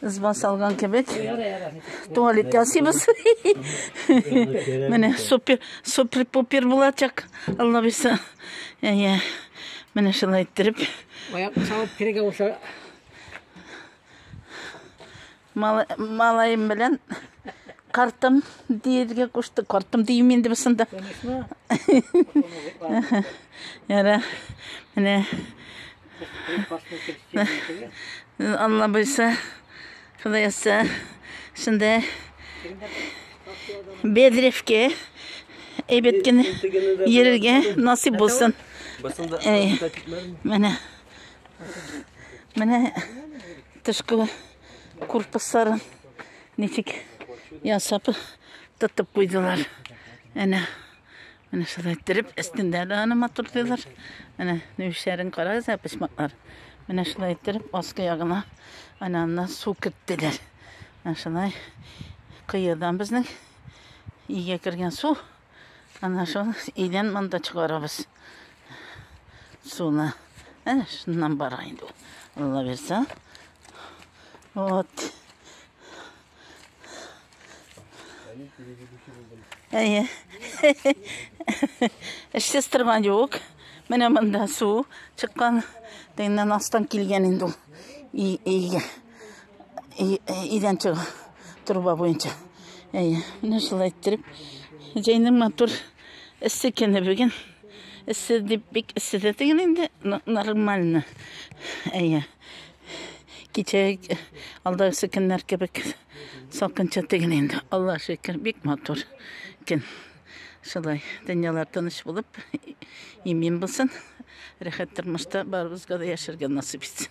Ызба салган кебек. Туалет ясыйбыз. Менә супер, супер пупер булачак. Алла бирсә. Әйе. Менә шулай иттереп. Аяк салып керегә булса. Малаем белән картым диергә кушты. Картым дим инде бусында. Яра. Менә Алла буйса, Ходай язса, шунда Бедревке әйбәт кенә йөрергә насыйп булсын. Менә. Менә тышкы корпусларын ничек ясап тотып куйдылар. Әнә. Менә шулай иттереп, өстендә дә аны матурлыйлар. Менә нөшәрен карагыз, ә почмаклар. Менә шулай иттереп, аскы ягына ананнан су керттеләр. Менә шулай кыйыдан безнең өйгә кергән су. Ана шул өйдән монда чыгарабыз. Суны. Әнә шуннан бара инде. Алла бирсә. Вот. Әйе. Эшсез торган юк. Менә монда су чыккан. Тегеннән астан килгән инде ул. Өйгә. Идән чыга. Труба буенча. Әйе. Менә шулай иттереп. Җәйнең матур эссе көне бүген. Эссе дип бик эссе дә теген инде. Нормально. Әйе. Кичә алдагысы көннәр кебек салкынча түгел инде. Алла шөкер, бик матур көн. Шулай, дөньялар тыныч булып, имин булсын. Рәхәт тормышта барыбызга да яшәргә насыйп итсен.